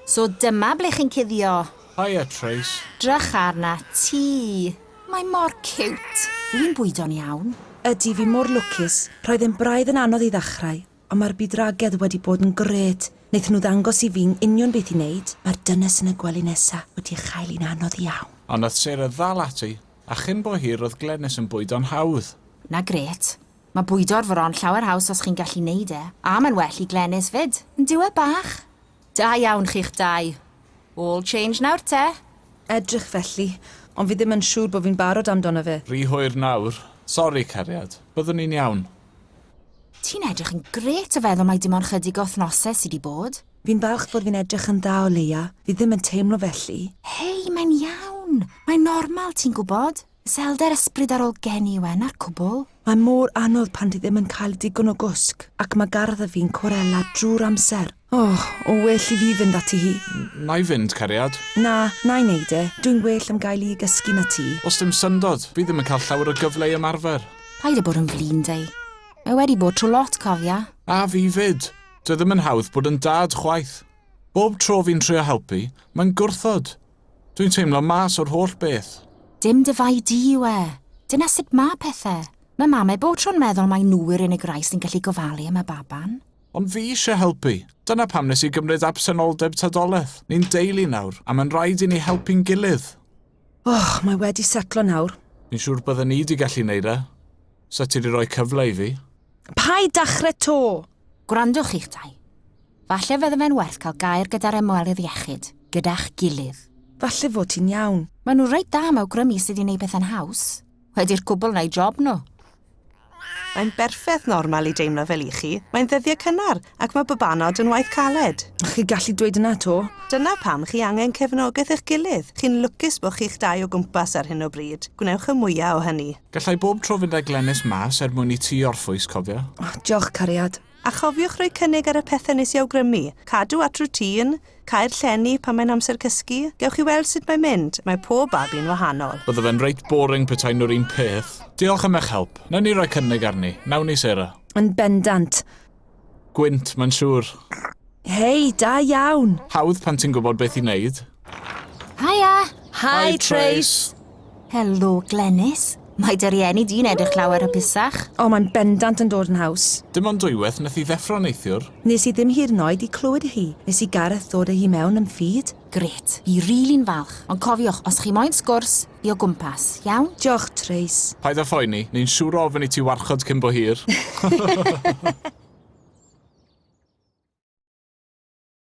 So dyma ble chi'n cuddio. Hiya, Trace. Drych arna ti. Mae mor cute. Dwi'n bwydo'n iawn. Ydy, fi mor lwcus. Roedd e'n braidd yn anodd i ddechrau, ond mae'r bydwragedd wedi bod yn grêt. Wnaethon nhw ddangos i fi'n union beth i wneud. Mae'r dynes yn y gwely nesa wedi chael un anodd iawn. Ond nath Sarah ddal ati, a chyn bo hir roedd Glenys yn bwydo'n hawdd. Na grêt. Mae bwydo'r fron llawer haws os chi'n gallu neud e, a mae'n well i Glenys 'fyd. Yn dyw e bach? Da iawn chi'ch dau. All change nawr te. Edrych felly, ond fi ddim yn siŵr bo fi'n barod amdano fe. Rhy hwyr nawr. Sori, cariad. Byddwn ni'n iawn. Ti'n edrych yn grêt o feddwl mai dim ond chydig o wthnose sy 'di bod. Fi'n falch fod fi'n edrych yn dda o leia, fi ddim yn teimlo felly. Hei, mae'n iawn! Mae'n normal, ti'n gwbod. Iselder ysbrydarol gen i yw e, 'na'r cwbl. Mae mor anodd pan ti ddim yn cael digon o gwsg, ac mae garddio fi'n cwrela drwy'r amser. O, o well i fi fynd ati hi. Wna i fynd, cariad. Na, wna i wneud e. Dwi'n well am gael i gysgu na ti. Oes dim syndod, fi ddim yn cael llawer o gyfle i ymarfer. Paid â bod yn flin, Dei. Mae wedi bod trwy lot, cofia. A fi 'fyd. Dyw e ddim yn hawdd bod yn dad chwaith. Bob tro fi'n trio helpu, mae'n gwrthod. Dwi'n teimlo mas o'r holl beth. Dim dy fai di yw e. Dyna sut mae pethau. Mae mamau bob tro'n meddwl mai nhw yw'r unig rai sy'n gallu gofalu am y baban. Ond fi eisiau helpu. Dyna pam nes i gymryd absenoldeb tadolaeth. Ni'n deulu nawr, a mae'n rhaid i ni helpu'n gilydd. Och, mae wedi setlo nawr. Fi'n siŵr bydden ni di gallu neud e. Sa ti di roi cyfle i fi? Paid dachre 'to! Gwrandwch chi'ch dau. Falle fydde fe'n werth cael gair gyda'r ymwelydd iechyd, gyda'ch gilydd. Falle fod ti'n iawn. Maen nhw reit dda am awgrymu sut i wneud pethau'n haws. Wedi'r cwbl wna i job nhw. Mae'n berffeth normal i deimlo fel i chi, mae'n ddyddiau cynnar, ac mae babanod yn waith caled. Chi'n gallu dweud yna 'to. Dyna pam chi angen cefnogaeth eich gilydd. Chi'n lwcus bod chi'ch dau o gwmpas ar hyn o bryd. Gwnewch y mwya' o hynny. Gallai bob tro fynd â Glenys mas er mwyn i ti orffwys, cofia. O, diolch, cariad. A chofiwch roi cynnig ar y pethe nes i awgrymu, cadw at routine, cau'r llenni pan mae'n amser cysgu, gewch chi weld sut mae'n mynd, mae pob babi'n wahanol. Bydde fe'n reit boring petai nhw'r un peth. Diolch am eich help. Nawn ni roi cynnig arni, nawn ni Sarah? Yn bendant. Gwynt, mae'n siŵr. Hei, da iawn! Hawdd pan ti'n gwybod beth i wneud. Haia! Hi, Hi Trace! Helo, Glenys. Mae dy rieni di'n edrych llawer hapusach. O, mae'n bendant yn dod yn haws. Dim ond dwywaith nes i ddeffro neithiwr. Nes i ddim hyd yn oed i clywed hi nes i Gareth ddod â hi mewn yn feed. Grêt. Fi rili'n falch. Ond cofiwch, os chi moyn sgwrs, fi o gwmpas, iawn? Diolch, Trace. Paid â phoeni, ni'n siŵr o ofyn i ti warchod cyn bo hir.